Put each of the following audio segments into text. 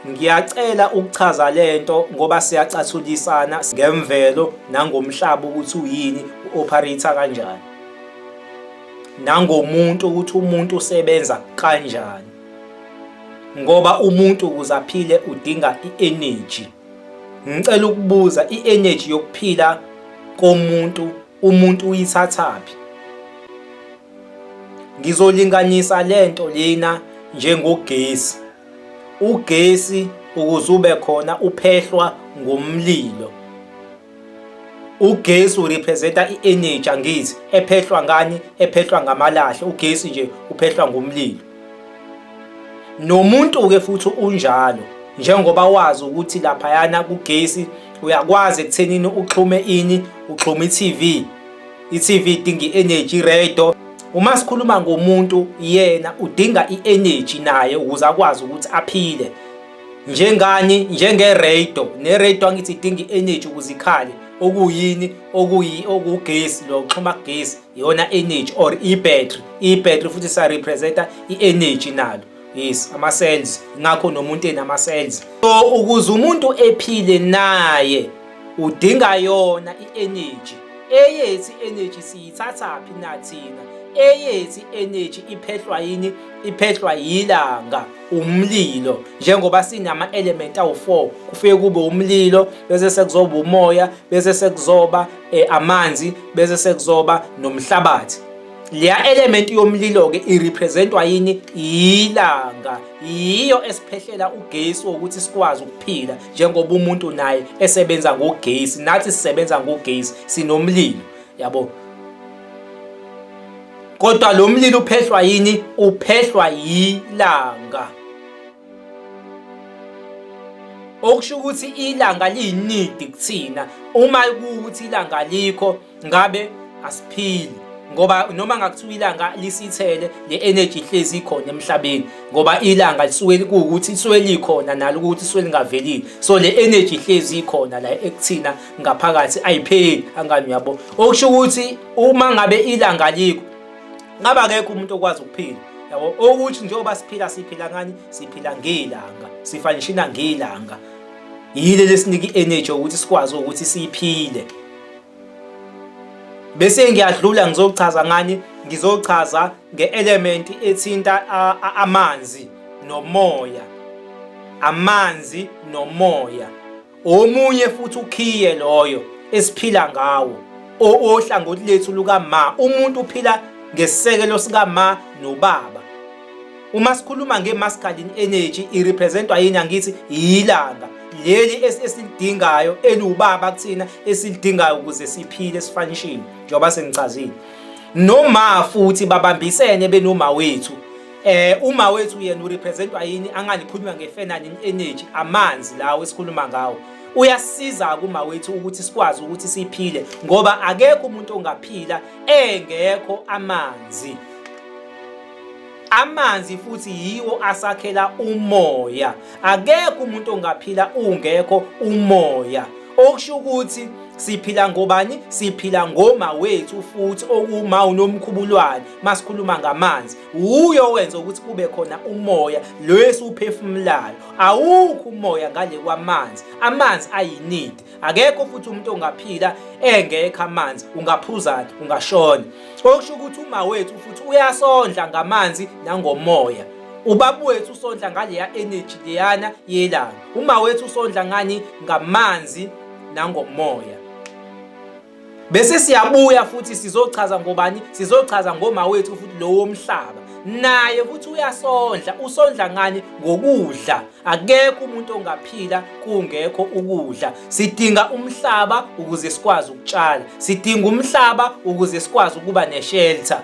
Ngiyacela ukuchaza lento ngoba siyacathulisana ngemvelo nangomhlaba ukuthi uyini u-operator kanjani. Nangomuntu ukuthi umuntu usebenza kanjani. Ngoba umuntu ukuze aphile udinga i-energy. Ngicela ukubuza i-energy yokuphila komuntu umuntu uyithathaphi ngizolinganisa lento lena njengogesi ugesi ukuze ube khona uphehlwa ngomlilo ugesi urepresenta i-energy angithi ephehlwa ngani ephehlwa ngamalahle ugesi nje uphehlwa ngomlilo nomuntu-ke futhi unjalo njengoba wazi ukuthi laphayana kugesi uyakwazi ekuthenini uxhume ini uxhume i-tv i-tv idinga i-energy iredo uma sikhuluma ngomuntu yena udinga i-energy naye ukuze akwazi ukuthi aphile njengani njengeredo neredo angithi idinga i-energy ukuze ikhale okuyini okuyi okugesi lo xhuma kugesi yona energy or i-battery i-battery futhi sa-representa i-energy nalo yes ama-cells ngakho nomuntu enama-cells so ukuze umuntu ephile naye udinga yona i-energy eyethi energy siyithathaphi nathina eyethi energy iphehlwa yini iphehlwa yilanga umlilo njengoba sinama element awu4 kufike kube umlilo bese sekuzoba umoya bese sekuzoba e, amanzi bese sekuzoba nomhlabathi leya element yomlilo ke irepresentwa yini ilanga yiyo esiphehlela ugesi ukuthi sikwazi ukuphila njengoba umuntu naye esebenza ngogesi nathi sisebenza ngogesi sinomlilo yabo kodwa lo mlilo uphehlwa yini uphehlwa yilanga okusho ukuthi ilanga liyinidi kuthina uma kuwukuthi ilanga alikho ngabe asiphili ngoba noma ngakuthiwa ilanga lisithele le energy ihlezi ikhona emhlabeni ngoba ilanga lisuke kuwukuthi lisuke likhona nalo ukuthi lisuke lingavelile so le energy ihlezi ikhona la ekuthina ngaphakathi ayipheli angani uyabo okusho ukuthi uma ngabe ilanga likho ngabe akekho umuntu okwazi ukuphila yabo okuthi njengoba siphila siphila ngani siphila ngelanga sifa nishina ngelanga yile lesinika i-energy ukuthi sikwazi ukuthi siphile bese ngiyadlula ngizochaza ngani ngizochaza nge-element ethinta amanzi nomoya amanzi nomoya Omunye futhi ukhiye loyo esiphila ngawo ohlangothi lethu lukama umuntu uphila ngesisekelo sikama nobaba uma sikhuluma nge-masculine energy irepresentwa yini angithi yilanga leli esilidingayo eliwubaba kuthina esilidingayo ukuze siphile esifanishini njengoba sengichazile noma futhi babambisene benoma wethu Eh uma wethu yena urepresentwa yini anganikhulunywa ngefenanin energy amanzi lawo esikhuluma ngawo uyasiza kuma wethu ukuthi sikwazi ukuthi siphile ngoba akekho umuntu ongaphila engekho amanzi amanzi futhi yiwo asakhela umoya akekho umuntu ongaphila ungekho umoya okusho ukuthi siphila ngobani siphila ngoma wethu futhi okuma unomkhubulwane masikhuluma ngamanzi wuye owenza ukuthi kube khona umoya lo esiwuphefumulayo awukho umoya ngale kwamanzi amanzi ayinidi akekho futhi umuntu ongaphila engekho amanzi ungaphuzana ungashona okusho ukuthi uma wethu futhi uyasondla ngamanzi nangomoya ubaba wethu usondla ngaleya energy leyana yelanga uma wethu usondla ngani ngamanzi nangomoya Bese siyabuya futhi sizochaza ngobani, sizochaza ngomawethu futhi lowo mhlaba. Naye futhi uyasondla, usondla ngani ngokudla. Akekho umuntu ongaphila kungekho ukudla. Sidinga umhlaba ukuze sikwazi ukutshala. Sidinga umhlaba ukuze sikwazi ukuba neshelter.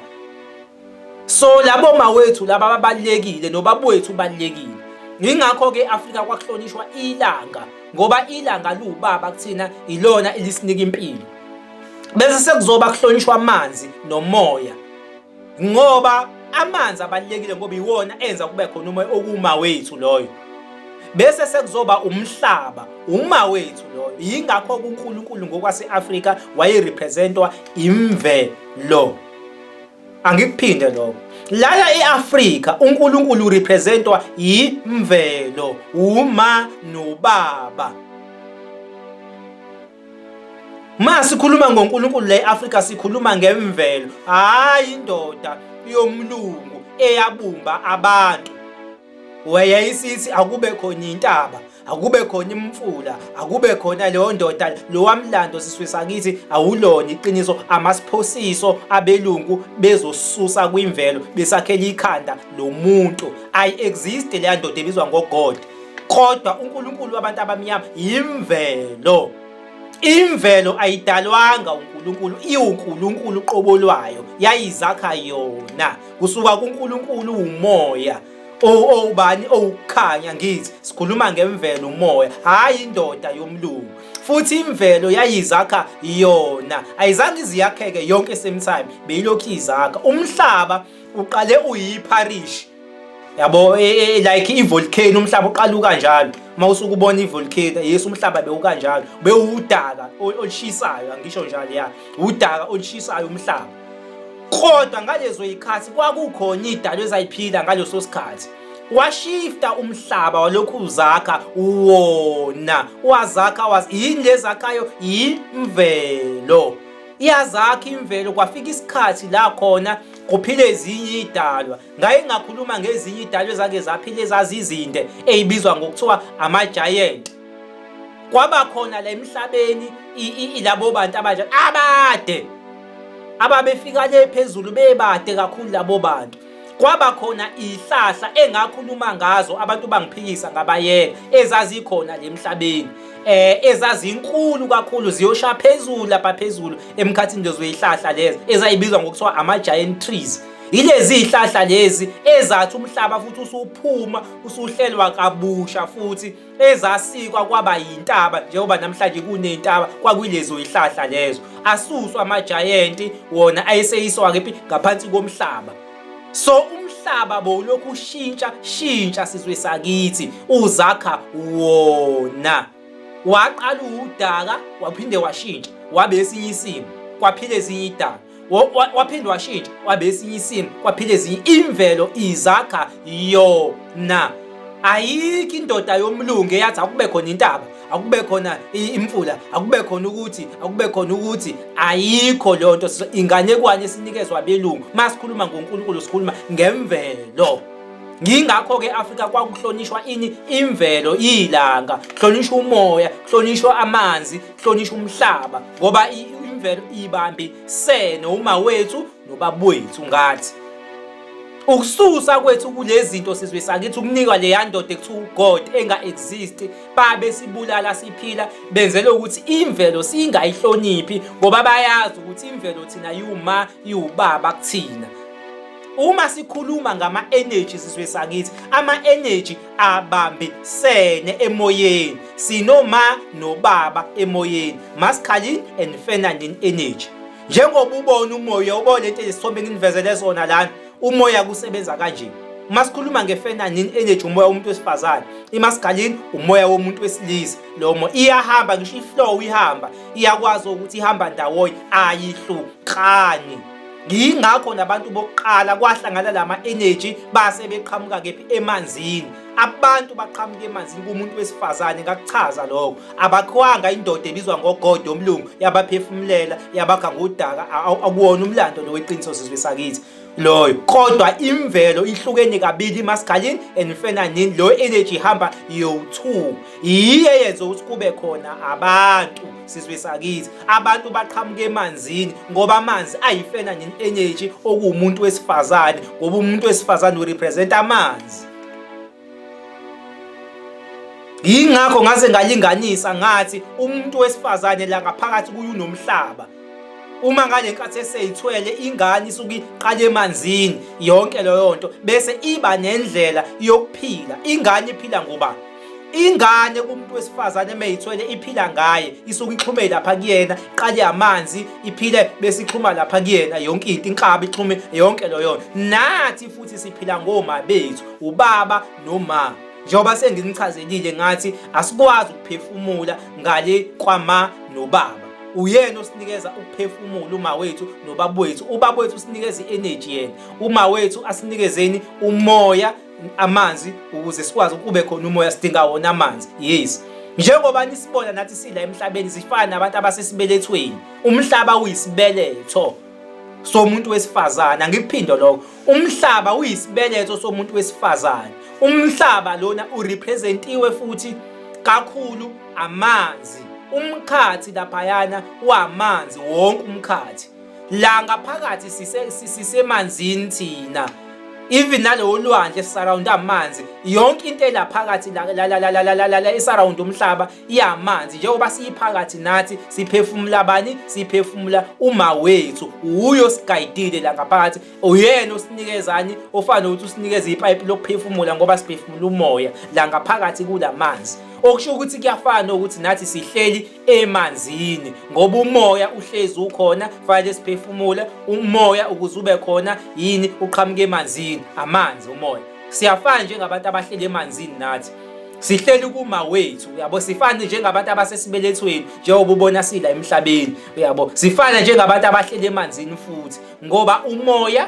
so labo mawethu laba ababalekile nobabwethu ubalekile yingakho ke Afrika kwakuhlonishwa ilanga ngoba ilanga liwubaba kuthina ilona elisinika impilo bese sekuzoba kuhlonishwa amanzi nomoya ngoba amanzi abalekile ngoba iwona enza kube khona umoya okuma wethu loyo bese sekuzoba umhlaba uma wethu loyo yingakho uNkulunkulu ngokwaseAfrika wayerepresentwa imvelo angikuphinde lokho lana eAfrika uNkulunkulu representwa yimvelo uma nobaba Ma sikhuluma ngoNkulunkulu la eAfrika sikhuluma ngemvelo hayi indoda yomlungu eyabumba abantu wayeyisithi akube khona intaba akube khona imfula akube khona leyo ndoda lowamlando siswe sakithi awulona iqiniso amasiphosiso abelungu bezosusa kwimvelo besakhela ikhanda lomuntu i exist leya ndoda ebizwa ngogod kodwa uNkulunkulu wabantu abamnyama yimvelo imvelo ayidalwanga uNkulunkulu iwuNkulunkulu qobo lwayo yayizakha yona kusuka kuNkulunkulu umoya owubani owukukhanya ngithi sikhuluma ngemvelo umoya hhayi indoda yomlungu futhi imvelo yayizakha yona ayizange iziyakheke yonke same time beyilokhu izakha umhlaba uqale uyipharishi yabo e, e, e, like ivolcano umhlaba uqaluka njalo uma usuke ubona ivolcano yes umhlaba bewukanjalo bewudaka olushisayo angisho njalo ya udaka olushisayo umhlaba kodwa ngalezo yikhathi kwakukhona idalo ezayiphila ngaleso sikhathi washifta umhlaba walokhu uzakha wona wazakha was yini lezakhayo yimvelo iyazakha imvelo kwafika isikhathi la khona kuphile ezinye idalwa ngaye ngakhuluma ngezinye idalwa ezake zaphile ezazizinde eyibizwa ngokuthiwa ama-giant kwaba khona la emhlabeni labo bantu abanje abade ababefika le phezulu bebade kakhulu labo bantu kwaba khona ihlahla engakhuluma ngazo abantu bangiphikisa ngabayeka ezazikhona le mhlabeni eh ezazinkulu kakhulu ziyosha phezulu lapha phezulu emkhathini lezo ihlahla lezi ezayibizwa ngokuthiwa ama giant trees yilezi ihlahla lezi ezathi umhlaba futhi usuphuma usuhlelwa kabusha futhi ezasikwa kwaba yintaba njengoba namhlanje kuney'ntaba kwakuyilezo yihlahla lezo asuswa amajayenti wona ayeseyiswa-ke phi ngaphansi komhlaba so umhlaba bowulokhu ushintsha shintsha sizwe sakithi uzakha wona waqala uwudaka waphinde washintsha wabe esinye isimo kwaphila ezinye idaka waphinde washintsha waba esinye isimo kwaphila ezinye imvelo izakha yona ayikho indoda yomlungu eyathi akube khona intaba akube khona imfula akube khona ukuthi akube khona ukuthi ayikho leyo nto inganekwane esinikezwa abelungu uma sikhuluma ngonkulunkulu sikhuluma ngemvelo ngingakho ke Afrika kwakuhlonishwa ini imvelo ilanga hlonishwa umoya hlonishwa amanzi hlonishwa umhlaba ngoba imvelo ibambe sene uma wethu nobabwethu ngathi ukususa kwethu kulezi zinto sizwe sakithi ukunikwa leya ndoda ekuthiwa ugod enga-exist babe sibulala siphila benzele ukuthi imvelo singayihloniphi ngoba bayazi ukuthi imvelo thina yiwuma yiwubaba kuthina uma sikhuluma ngama-energy sizwe sakithi ama-energy abambisene emoyeni sinoma nobaba emoyeni masculine and feminine energy njengoba ubona umoya ubona into ezisithombe nginivezele zona lana umoya kusebenza kanje uma sikhuluma nge-feminine energy umoya womuntu wesifazane imasculine umoya womuntu wesilisa lomo iyahamba ngisho iflow ihamba iyakwazi ukuthi ihamba ndawonye ayihlukani yingakho nabantu bokuqala kwahlangana lama energy base beqhamuka kephi emanzini abantu baqhamuka emanzini kumuntu wesifazane ngakuchaza lokho abakhwanga indoda ebizwa ngogodo omlungu yabaphefumulela yabakha ngodaka akuwona umlando lo weqiniso sizwe sakithi loyo kodwa imvelo ihlukene kabili maskalin and fenanin lo energy ihamba yowu-2 yiye yenze ukuthi kube khona abantu sizwe sakithi abantu baqhamuka emanzini ngoba amanzi ayifena nini energy okuwumuntu wesifazane ngoba umuntu wesifazane urepresent amanzi yingakho ngaze ngalinganisa ngathi umuntu wesifazane la ngaphakathi kuye unomhlaba uma ngale nkathi eseyithwele ingane isuke iqale emanzini yonke leyo nto bese iba nendlela yokuphila ingane iphila ngobani ingane kumuntu wesifazane meyithwele iphila ngaye isuke ixhume lapha kuyena iqale amanzi iphile bese ixhuma lapha kuyena yonke into inkabi ixhume yonke loyo nathi futhi siphila ngoma bethu ubaba noma njengoba senginichazelile ngathi asikwazi ukuphefumula ngale kwama nobaba uyena osinikeza ukuphefumula uma wethu nobaba wethu ubaba wethu usinikeza i-energy yena uma wethu asinikezeni umoya amanzi ukuze sikwazi ukube khona umoya sidinga wona amanzi yes njengoba nisibona nathi sidla emhlabeni zifana nabantu abasesibelethweni umhlaba uyisibeletho somuntu wesifazane angikuphindo lokho umhlaba uyisibeletho somuntu wesifazane umhlaba lona urepresentiwe futhi kakhulu amanzi umkhathi laphayana wamanzi wonke umkhathi la ngaphakathi sise sisemanzini thina even nalewo lwandle surround amanzi yonke into elaphakathi la la la la la la la esurround umhlaba iyamanzi njengoba siyiphakathi nathi siphefumula bani siphefumula uma wethu uyo sigayidile la ngaphakathi uyena osinikezani ofana ukuthi usinikeza ipipe lokuphefumula ngoba siphefumula umoya la ngaphakathi kulamanzi okusho ukuthi kuyafana ukuthi nathi sihleli emanzini ngoba umoya uhlezi ukhona fanele siphefumule umoya ukuze ube khona yini uqhamuke emanzini amanzi umoya siyafana njengabantu abahleli emanzini nathi sihleli kuma wethu uyabo sifane njengabantu abasesibelethweni njengoba ubona sila emhlabeni uyabo sifana njengabantu abahleli emanzini futhi ngoba umoya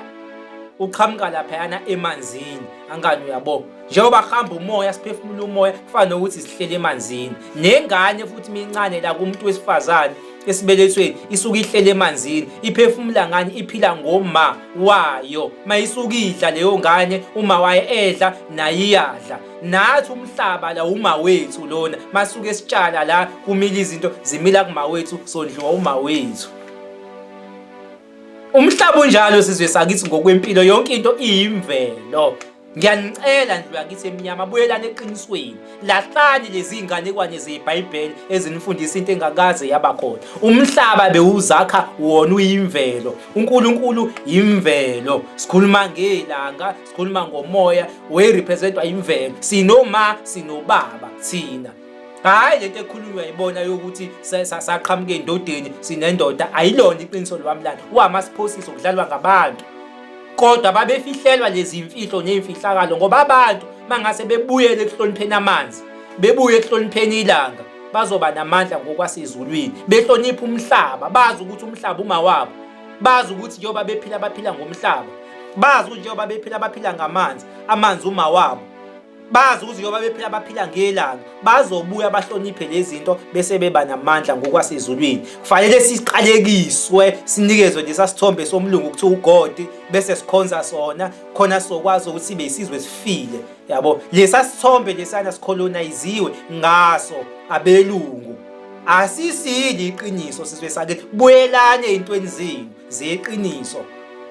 uqhamuka laphayana emanzini angani uyabo njengoba kuhamba umoya siphefumula umoya kufana nokuthi sihlele emanzini nengane futhi mincane la kumuntu wesifazane esibelethweni isuke ihlele emanzini iphefumula ngani iphila ngoma wayo mayisuke idla leyo ngane uma waye edla naye iyadla nathi umhlaba la uma wethu lona masuke sitshala la kumila izinto zimila kuma wethu sondliwa uma wethu umhlaba unjalo sizwe sakithi ngokwempilo yonke into iyimvelo Ngiyanicela ndlu yakithi emnyama buyelani eqinisweni lahlani lezi iy'nganekwane zebhayibheli ezinifundisa into engakaze yaba khona umhlaba bewuzakha wona uyimvelo unkulunkulu yimvelo sikhuluma ngelanga sikhuluma ngomoya werepresentwa yimvelo sinoma sinobaba thina hhayi lento ekhulunywa yibona yokuthi saqhamuke endodeni sinendoda ayilona iqiniso lwamlando wama siphosiso kudlalwa ngabantu kodwa babefihlelwa lezi mfihlo ney'mfihlakalo ngoba abantu mangase bebuyele ekuhlonipheni amanzi bebuye ekuhlonipheni ilanga bazoba namandla ngokwasezulwini behlonipha umhlaba bazi ukuthi umhlaba umawabo bazi ukuthi njengoba bephila baphila ngomhlaba bazi ukuthi njengoba bephila baphila ngamanzi amanzi umawabo bazi ukuthi njengoba bephila baphila ngelanga bazobuya bahloniphe lezinto bese beba namandla ngokwasezulwini kufanele siqalekiswe sinikezwe lesa sithombe somlungu ukuthi ugodi bese sikhonza sona khona sokwazi ukuthi sibe isizwe sifile yabo lesa sithombe lesana sikholonayiziwe ngaso abelungu asisili iqiniso sizwe sakithi buyelane ezintweni zenu zeqiniso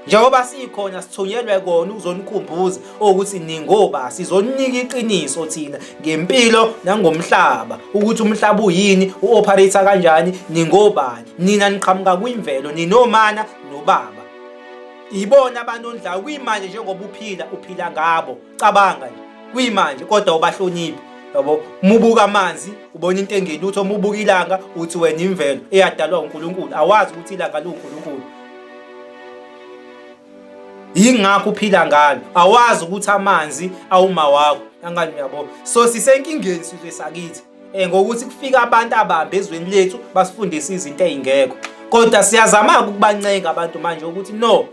njengoba sikhona sithunyelwe kona ukuzonikhumbuza ukuthi ningoba sizoninika iqiniso thina ngempilo nangomhlaba ukuthi umhlaba uyini uoperator kanjani ningobani nina niqhamuka kwimvelo ninomana nobaba ibona abantu ondlayo kuyimanje njengoba uphila uphila ngabo cabanga nje kuyimanje kodwa ubahloniphi yabo mubuka amanzi ubona into engeni uthi umubuka ilanga uthi wena imvelo eyadalwa uNkulunkulu awazi ukuthi ilanga liwuNkulunkulu yingakho uphila ngalo awazi ukuthi amanzi awuma wakho angani uyabo so sisenkingeni sizwe sakithi Eh, ngokuthi kufika abantu abambe ezweni lethu basifundise izinto ezingekho kodwa siyazama ukubancenga abantu manje ukuthi no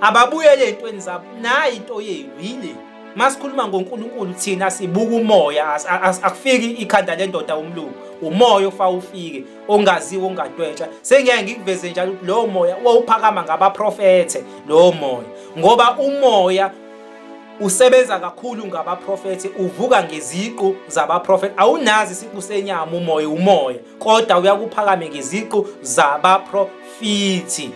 ababuyele ezintweni zabo nayi into yenu yile masikhuluma ngoNkulunkulu thina sibuka umoya akufiki ikhanda lendoda umlungu umoya ofa ufike ongaziwe ongadwetsha sengiyaye ngikuveze njalo ukuthi lowo moya wawuphakama ngabaprofethe lowo moya ngoba umoya usebenza kakhulu ngabaprofethi uvuka ngeziqu zabaprofethi awunazi isiqu senyama umoya umoya kodwa uyakuphakame ngeziqu zabaprofethi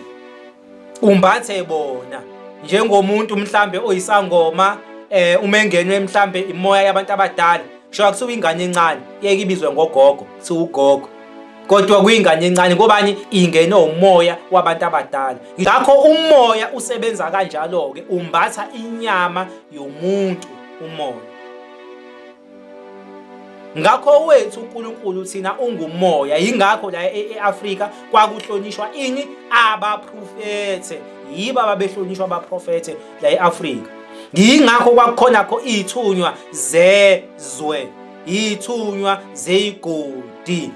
umbathe bona njengomuntu mhlambe oyisangoma eh uma engenwe mhlambe imoya yabantu abadala sho akusuka ingane encane yeke ibizwe ngogogo siwugogo kodwa kuyingane encane ngobani ingene umoya wabantu abadala ngakho umoya usebenza kanjalo ke umbatha inyama yomuntu umoya ngakho wethu uNkulunkulu thina ungumoya yingakho la e-, eAfrika kwakuhlonishwa ini abaprofethe yiba babehlonishwa abaprofethe la eAfrika yingakho kwakukhona kho ithunywa zezwe yithunywa zeyigodi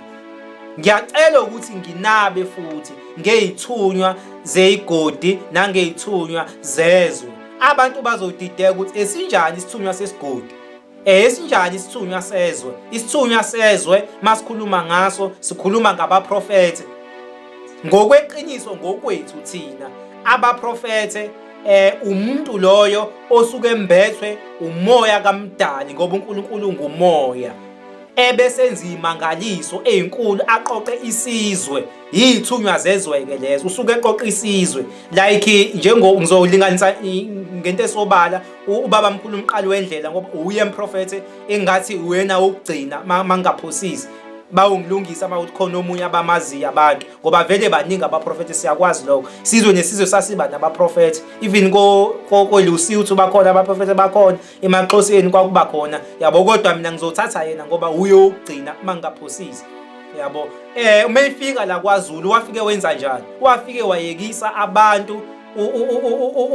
ngiyacela ukuthi nginabe futhi ngeyithunywa zeyigodi nangeyithunywa zezwe abantu bazodideka ukuthi esinjani isithunywa sesigodi Eh sinjani isithunywa sezwe? Isithunywa sezwe masikhuluma ngaso sikhuluma ngabaprofete. Ngokweqiniso ngokwethu thina abaprofete eh umuntu loyo osuke embethwe umoya kamdali ngoba uNkulunkulu ngumoya ebesenza imangaliso ezinkulu aqoqe isizwe yithunywa zezweke lezo usuke eqoqa isizwe like njengo ngizolinganisa ngento esobala ubaba mkhulu umqali wendlela ngoba uye emprofete engathi uyena ukugcina mangaphosisi bawungilungisa mawuthi khona omunye abamaziyo abantu ngoba vele baningi abaprofethi siyakwazi lokho sizwe nesizwe sasiba nabaprofethi even koelusi uthi bakhona abaprofethi bakhona emaxhoseni kwakuba khona yabo kodwa mina ngizothatha yena ngoba uye ukugcina uma ngingaphosisi yabo eh uma ifika la kwaZulu wafike wenza njani wafike wayekisa abantu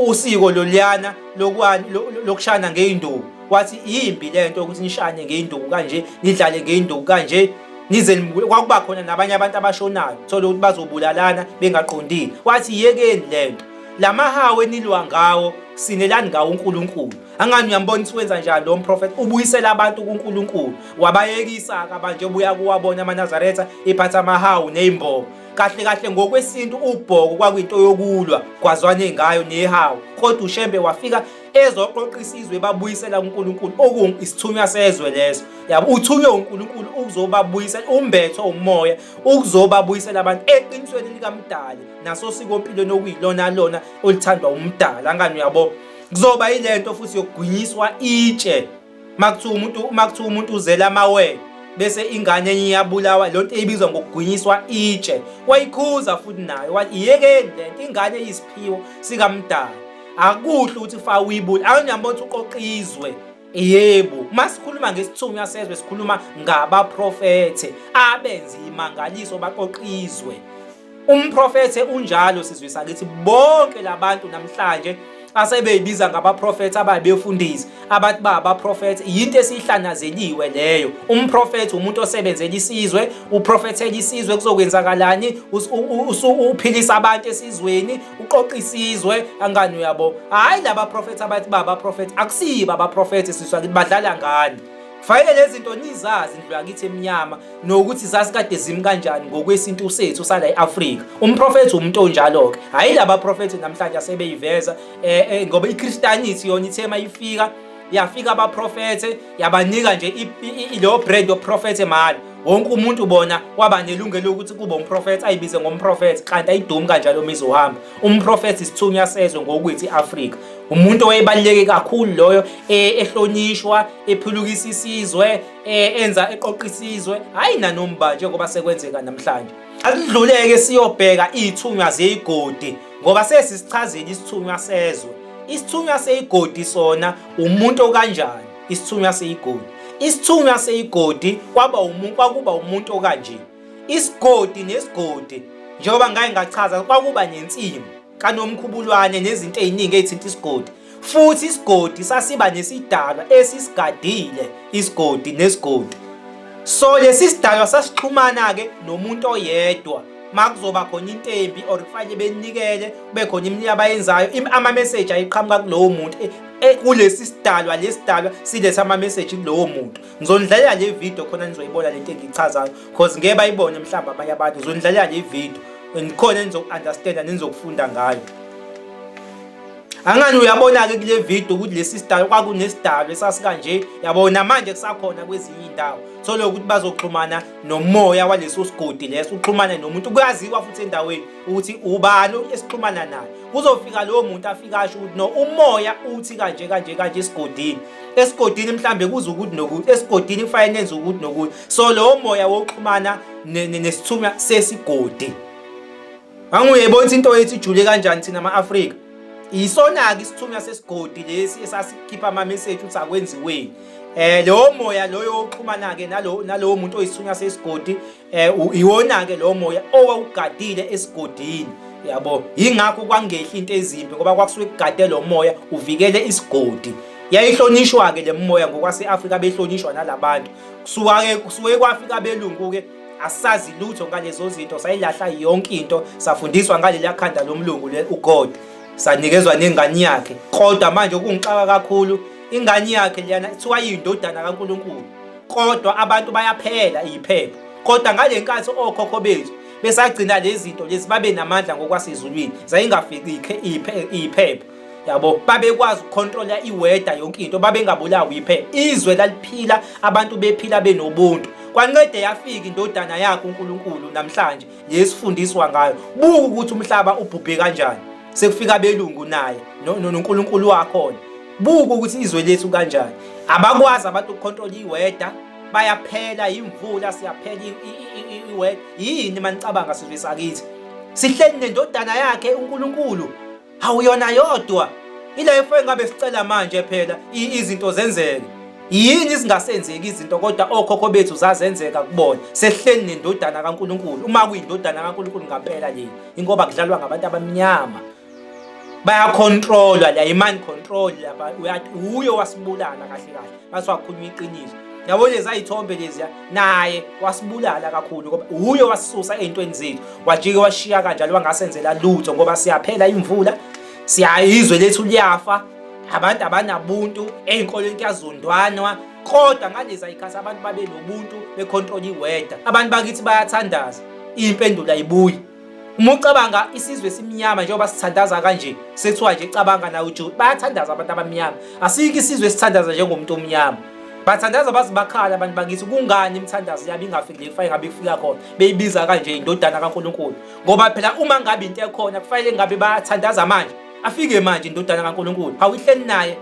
usiko loliyana lokwani lokushana ngeinduku wathi imbi lento ukuthi nishane ngeinduku kanje nidlale ngeinduku kanje nize nibuye kwakuba khona nabanye abantu abashonayo thole ukuthi bazobulalana bengaqondile wathi yekeni le nto la mahawu enilwa ngawo sinelani ngawo uNkulunkulu angani uyambona ukuthi wenza njani lo mprofeti ubuyisela abantu kuNkulunkulu wabayekisa-ke abanje ubuya kuwabona amanazaretha iphatha amahawu ney'mbobo kahle kahle ngokwesintu ubhoko kwakuyinto yokulwa kwazwane ngayo nehawu kodwa ushembe wafika ezoqoqa isizwe babuyisela uNkulunkulu oku isithunywa sezwe leso yabo uthunywe uNkulunkulu ukuzobabuyisela umbethwa umoya ukuzobabuyisela abantu eqinisweni likamdali nasosiko empilweni okuyilona lona olithandwa umdala ngani uyabo kuzoba yilento futhi yokugwinyiswa itshe makuthiwa umuntu makuthiwa umuntu uzela amawele bese ingane enye iyabulawa lo nto ibizwa ngokugwinyiswa itshe wayikhuza futhi nayo wathi iyekeni le nto ingane eyisiphiwo sikamdala akuhle ukuthi fa uyibule akunyambona ukuthi uqoqa izwe yebo uma sikhuluma ngesithunywa sezwe sikhuluma ngabaprofethe abenza imangaliso baqoqa izwe Umprofethe unjalo sizwe sakithi bonke labantu namhlanje asebeyibiza ngabaprofethi ababefundisi abathi ba abaprofethi yinto esihlanazeliwe leyo umprofethi umuntu osebenzela isizwe uprofethela isizwe kuzokwenzakalani uphilisa abantu esizweni uqoqa isizwe angani uyabo hayi laba profethi abathi ba abaprofethi akusiyiba abaprofethi siswa badlala ngani Kufanele lezi zinto nizazi indlu yakithi emnyama nokuthi zasikade zimi kanjani ngokwesintu sethu sala e-Afrika. Umprofethi umuntu onjalo-ke, hhayi laba profethi namhlanje asebeyiveza um eh, eh, ngoba iKristanisi yona ithe uma ifika yafika abaprofethe yabanika nje leyo brand yoprofethe mali wonke umuntu bona waba nelungelo lokuthi kube umprofethi ayibize ngomprofethi kanti ayidumi kanjalo uma izohamba umprofethi isithunywa sezwe ngokwethi i-afrika umuntu owayebaluleke kakhulu loyo eh, ehlonishwa ephulukisa isizwe eh, enza eqoqa isizwe hayi nanomba njengoba sekwenzeka namhlanje asidluleke siyobheka izithunywa zeyigodi ngoba sesisichazile isithunywa sezwe isithunywa seyigodi sona umuntu okanjani isithunywa seyigodi isithunywa seyigodi kwaba umuntu kwakuba umuntu okanje isigodi nesigodi njengoba ngaye ngachaza kwakuba nensimbi kaNomkhubulwane nezinto eziningi ezithinta isigodi futhi isigodi sasiba nesidalwa esisigadile isigodi nesigodi so lesi sidalwa sasixhumana-ke nomuntu oyedwa makuzoba khona into embi or kufanele benikele kube khona imini abayenzayo ama-message ayiqhamuka kulowo muntu e, e, kulesi sidalwa lesi sidalwa siletha ama-message kulowo muntu ngizonidlalela le video khona nizoyibona lento engiyichazayo cause ngeke bayibone mhlawumbe abanye abantu ngizonidlalela le video and khona nizoku-understanda nenizokufunda ngayo angani uyabona-ke kule video ukuthi lesi sidalo kwakunesidalo esasikanje yabona manje kusakhona kwezinye iy'ndawo thole ukuthi bazoxhumana nomoya waleso sigodi leso uxhumane nomuntu kuyaziwa futhi endaweni ukuthi ubani esixhumana naye kuzofika lowo muntu afike asho ukuthi no umoya uthi kanje kanje kanje esigodini esigodini mhlambe kuze ukuthi nokuthi esigodini kufanele nenze ukuthi nokuthi so lowo moya wokuxhumana nesithunywa sesigodi anguyebona ukuthi into yethu ijule kanjani thina ama-afrika yisona-ke isithunywa sesigodi lesi esasikhipha ama-message ukuthi akwenziweni um lowo moya loyo wokuxhumana-ke nalowo muntu oyisithunywa sesigodi eh iwona ke lo moya owawugadile esigodini yabo ingakho kwangehla into ezimbi ngoba kwakusuke kugade lo moya uvikele isigodi yayihlonishwa ke lemoya ngokwaseAfrika behlonishwa nalabantu kusuka ke kusuke kwafika belungu ke asazi lutho ngalezo zinto sayilahla yonke into safundiswa ngalelia khanda lomlungu le uGod sanikezwa nengane yakhe kodwa manje kungixaka kakhulu ingane yakhe liyana kuthiwa yindodana kaNkuluNkulu kodwa abantu bayaphela iyiphepha kodwa ngale nkathi okhokho bethu besagcina lezi zinto lezi babe namandla ngokwasezulwini zayingafiki iyiphepha yabo babekwazi ukukhontrola iweda yonke into babengabulawa iphepha izwe laliphila abantu bephila benobuntu kwancede yafika indodana yakhe uNkulunkulu namhlanje yesifundiswa ngayo buka ukuthi umhlaba ubhubhe kanjani sekufika belungu naye noNkulunkulu wakhona Buka ukuthi izwe lethu kanjani. Abakwazi abantu ukukhontrola iweda, bayaphela imvula siyaphela iweda. Yini manicabanga sizwe sakithi? Sihleli nendodana yakhe uNkulunkulu. Awuyona yodwa. Ila efwe ngabe sicela manje phela izinto zenzeke. Yini izingasenzeki izinto kodwa okhokho bethu zazenzeka kubona. Sehleli nendodana kaNkulunkulu. Uma kuyindodana kaNkulunkulu ngapela le. Ingoba kudlalwa ngabantu abamnyama. bayakhontrolwa la imani control lapha uyathi uye wasibulala kahle kahle ngathi wakhuluma iqiniso yabo leza ithombe leziya naye wasibulala kakhulu ngoba uye wasisusa ey'ntweni zethu wajike washiya kanjalo wangasenzela lutho ngoba siyaphela imvula siyayizwe lethu liyafa abantu abanabuntu ey'nkolweni kuyazondwanwa kodwa ngalezi ayikhathi abantu babe nobuntu bekhontrola iweda abantu bakithi bayathandaza impendulo ayibuyi uma ucabanga isizwe simnyama njengoba sithandaza kanje sekuthiwa nje cabanga nawe ujo bayathandaza abantu abamnyama asikho isizwe sithandaza njengomuntu omnyama bathandaza baze bakhala abantu bakithi kungani imithandazo yabo ingafiki le kufanele ngabe ifika khona beyibiza kanje indodana kaNkulunkulu ngoba phela uma ngabe into ekhona kufanele ngabe bayathandaza manje afike manje indodana kaNkulunkulu awihleli naye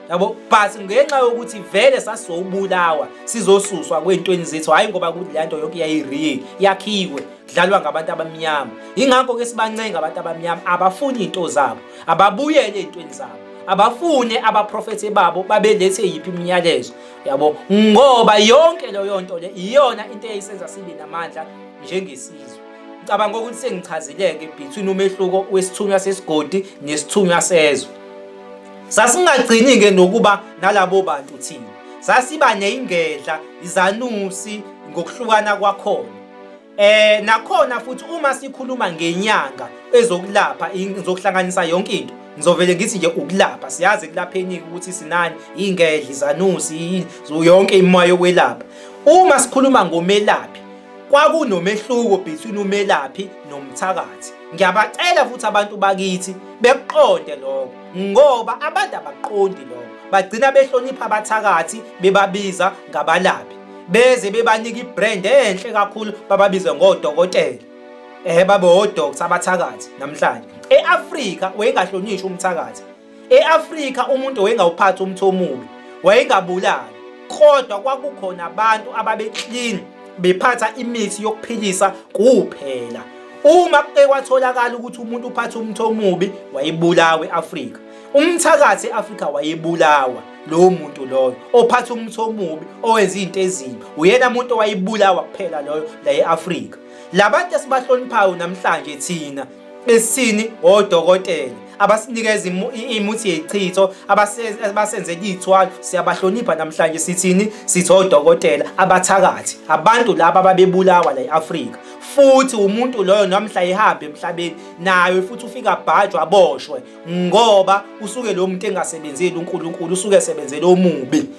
yabo but ngenxa yokuthi vele sasizobulawa sizosuswa kwey'ntweni zethu hhayi ngoba kuthi le nto yonke yayireal yakhiwe dlalwa ngabantu abamnyama yingakho ke sibancenga abantu abamnyama abafuni into zabo ababuyele ezintweni zabo abafune abaprofethi babo babelethe yiphi imiyalezo yabo ngoba yonke leyo nto le iyona into eyayisenza sibe namandla njengesizwe ngicabanga ukuthi sengichazileke between umehluko wesithunywa sesigodi nesithunywa sezwe sasingagcini ke nokuba nalabo bantu thina sasiba neyingedla izanusi ngokuhlukana kwakhona Eh nakhona futhi uma sikhuluma ngenyanga ezokulapha ngizokuhlanganisa yonke into ngizovele ngithi nje ukulapha siyazi kulapheni ukuthi sinani ingedla izanusi yini yonke imoya yokwelapha uma sikhuluma ngomelaphi kwakunomehluko between umelaphi nomthakathi ngiyabacela futhi abantu bakithi bekuqonde lokho ngoba abantu abaqondi lokho bagcina behlonipha abathakathi bebabiza ngabalaphi beze bebanika ibrand enhle kakhulu bababize ngodokotela eh babe odokotela abathakathi namhlanje eAfrika wayengahlonishwa umthakathi eAfrika umuntu wayengawuphathi umthi omubi wayengabulali kodwa kwakukhona abantu ababeclean bephatha imithi yokuphilisa kuphela uma ekwatholakala ukuthi umuntu uphatha umthi omubi wayebulawa eAfrika umthakathi eAfrika wayebulawa lowo muntu loyo ophatha umuthi omubi owenza izinto ezimbi uyena muntu owayibulawa kuphela loyo la e-Afrika labantu esibahloniphayo namhlanje thina esini odokotela abasinikeza imuthi yechitho abasenzela iy'thwalo siyabahlonipha namhlanje sithini sithi odokotela abathakathi abantu laba ababebulawa la e-afrika futhi umuntu loyo nomhla ehambe emhlabeni nayo futhi ufika abhajwa aboshwe ngoba usuke lo muntu engasebenzeli uNkulunkulu usuke esebenzela omubi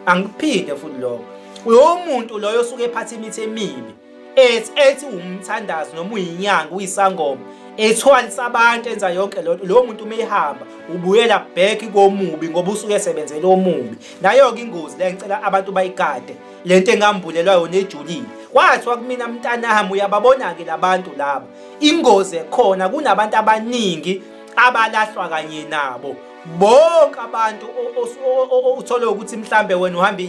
angiphinde futhi lokho uyo muntu loyo osuke ephatha imithi emibi ethi ethi umthandazi noma uyinyanga uyisangoma ethwalisa abantu enza yonke lento lowo muntu uma ehamba ubuyela back komubi ngoba usuke esebenzela omubi nayo-ke ingozi le ngicela abantu bayigade le nto engambulelwa yona ejulile kwathiwa kumina mntanami uyababona-ke labantu laba Ingozi ekhona kunabantu abaningi abalahlwa kanye nabo bonke abantu uthole ukuthi mhlambe wena uhamba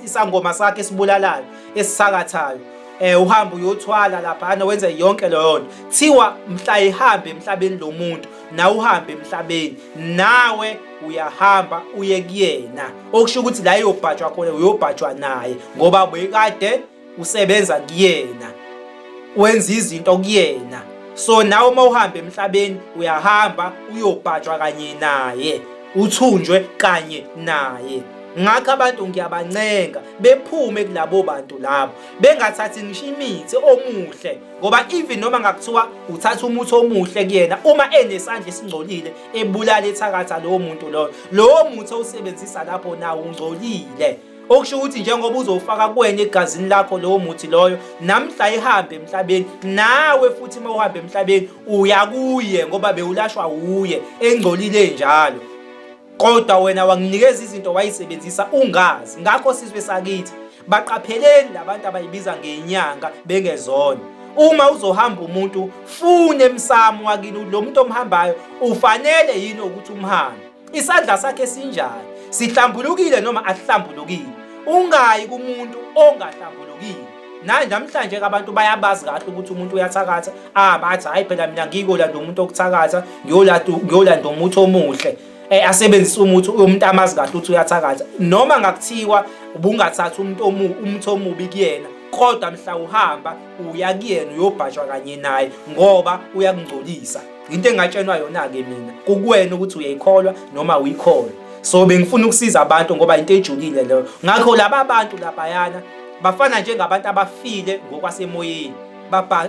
isangoma sakhe esibulalayo esisakathayo eh uhamba uyothwala lapha ana wenze yonke leyo nto thiwa mhla ihambe emhlabeni lo muntu na uhambe emhlabeni nawe uyahamba uye kuyena okusho ukuthi la yobhajwa khona uyobhajwa naye ngoba bekade usebenza kuyena wenza izinto kuyena so nawe uma uhamba emhlabeni uyahamba uyobhajwa kanye naye uthunjwe kanye naye ngakho abantu ngiyabancenga bephume kulabo bantu labo bengathathi ngisho imithi omuhle ngoba even noma ngakuthiwa uthatha umuthi omuhle kuyena uma enesandla esingcolile ebulala ethakatha lowo muntu loyo lowo muthi owusebenzisa lapho nawo ungcolile okusho ukuthi njengoba uzowufaka kuwena egazini lakho lowo muthi loyo namhla ihambe emhlabeni nawe futhi uma uhamba emhlabeni uya kuye ngoba bewulashwa wuye engcolile njalo kodwa wena wanginikeza izinto wayisebenzisa ungazi ngakho sizwe sakithi baqapheleni labantu abayibiza ngenyanga bengezona uma uzohamba umuntu fune emsamo wakini lo muntu omhambayo ufanele yini ukuthi umhambe Isandla sakhe sinjani? Sihlambulukile noma asihlambulukile? Ungayi kumuntu ongahlambulukile. Naye namhlanje-ke abantu bayabazi kahle ukuthi umuntu uyathakatha. Ah bathi hayi phela mina ngikolanda umuntu okuthakatha, ngiyolanda ngiyolanda umuthi omuhle. Eh asebenzisa umuthi umuntu amazi kahle ukuthi uyathakatha. Noma ngakuthiwa ubungathatha umuntu omu umuthi omubi kuyena kodwa mhla uhamba uya kuyena uyobhajwa kanye naye ngoba uyakungcolisa into engatshenwa yona-ke mina kukuwena ukuthi uyayikholwa noma uyikholwa so bengifuna ukusiza abantu ngoba into ejulile leyo ngakho laba bantu labayana bafana njengabantu abafile ngokwasemoyeni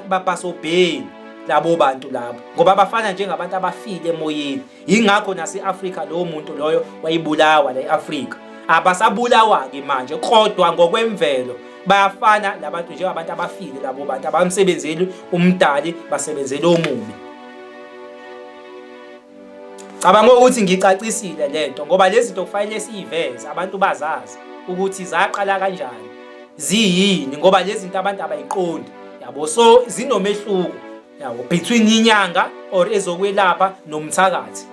babhasobheni labo bantu labo ngoba bafana njengabantu abafile emoyeni yingakho nase-afrika lowo muntu loyo wayibulawa la e-afrika abasabulawa-ke manje kodwa ngokwemvelo bayafana labantu njengabantu abafile labo bantu abamsebenzeli umdali basebenzele omubi cabanga ukuthi ngicacisile lento ngoba lezi zinto kufanele siyiveze abantu bazazi ukuthi zaqala kanjani ziyini ngoba lezi zinto abantu abayiqondi yabo so zinomehluko yabo between inyanga or ezokwelapha nomthakathi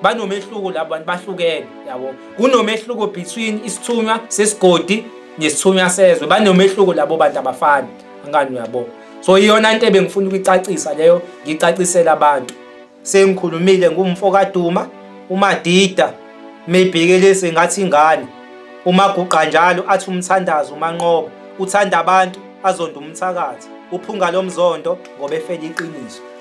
banomehluko labo bantu bahlukene yabo kunomehluko between isithunywa sesigodi nesithunywa sezwe banomehluko labo bantu abafani angani uyabo so iyona into ebengifuna ukuyicacisa leyo ngicacisela abantu sengikhulumile ngumfo kaduma umadida meyibhekelise ngathi ingane umaguqa njalo athi umthandazo umanqoba uthanda abantu azonda umthakathi uphunga lomzondo ngoba efela iqiniso